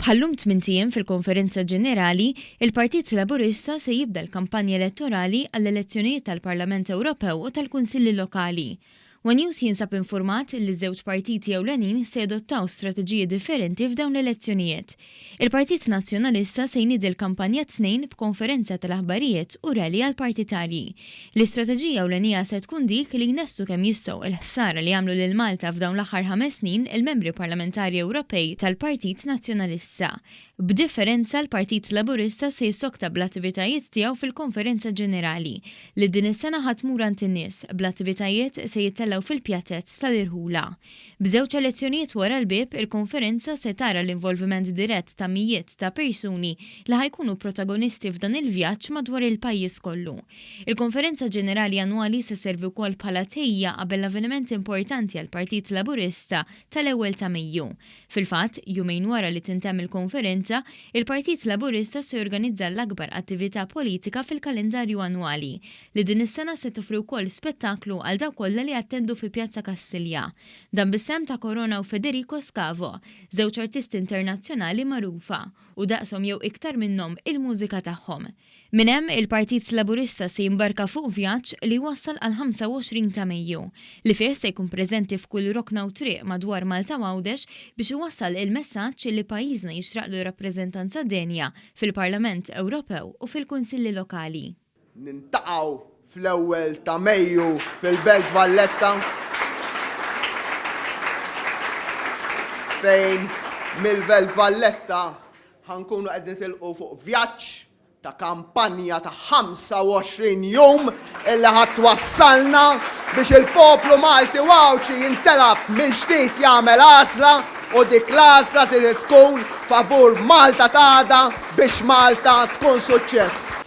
Bħal-lum tmint ijiem fil-Konferenza Ġenerali, il-Partit Laburista se jibda l-kampanja elettorali għall-elezzjonijiet tal-Parlament Ewropew u tal-Kunsilli Lokali. One News jinsab infurmat li ż-żewġ partiti ewlenin se jadottaw strateġiji differenti f'dawn l-elezzjonijiet. Il-Partit Nazzjonalista se jniedi l-kampanja t-Tnejn b'konferenza tal-aħbarijiet u rally għall-partitarji. L-istrateġija ewlenija se tkun dik li jnestu kemm jistgħu l-ħsara li għamlu lil Malta f'dawn l-aħħar ħames snin il-membri parlamentari Ewropej tal-Partit Nazzjonalista. B'differenza, l-Partit Laburista se jissokta bl-attivitajiet tiegħu fil-Konferenza Ġenerali, li din is-sena ħa tmur għand in-nies, bl-attivitajiet se jittellgħu fil-Pjazez tal-Irħula. B'żewġ elezzjonijiet wara l-bieb, il-Konferenza se tara l-involviment dirett ta' mijiet ta' persuni li ħa jkunu protagonisti f'dan il-vjaġġ madwar il-pajjiż kollu. Il-Konferenza Ġenerali Annwali se sservi wkoll bħala tħejjija qabel l-avveniment importanti għall-Partit Laburista tal-ewwel ta' Mejju. Fil-fatt, jumejn wara li tintemm il-Konferenza, il-Partit Laburista se jorganizza l-akbar attività politika fil-kalendarju annwali, li din is-sena se toffri wkoll spettaklu għal dawk kollha li jattendu fi Pjazza Kastilja. Dan bis-sehem ta' Corona u Federico Scavo, żewġ artisti internazzjonali magħrufa, u daqshom jew iktar minnhom, il-mużika tagħhom. Minn hemm, il-Partit Laburista se jimbarka fuq vjaġġ li jwassal għall-25 ta' Mejju, li fih se jkun preżenti f'kull rokna u triq madwar Malta u Għawdex biex iwassal il-messaġġ li pajjiżna jixraqlu rappreżentanza denja fil-Parlament Ewropew u fil-Kunsilli Lokali. Niltaqgħu fl-ewwel ta' Mejju fil-Belt Valletta fejn mill-Belt Valletta ħa nkunu qed nitilqu fuq vjaġġ ta' kampanja ta' 25 jum illi ħa twassalna biex il-poplu Malti u Għawdxi jintelab mill-ġdid jagħmel għażla u dik l-għażla trid tkun favur Malta ta' għada biex Malta tkun suċċess.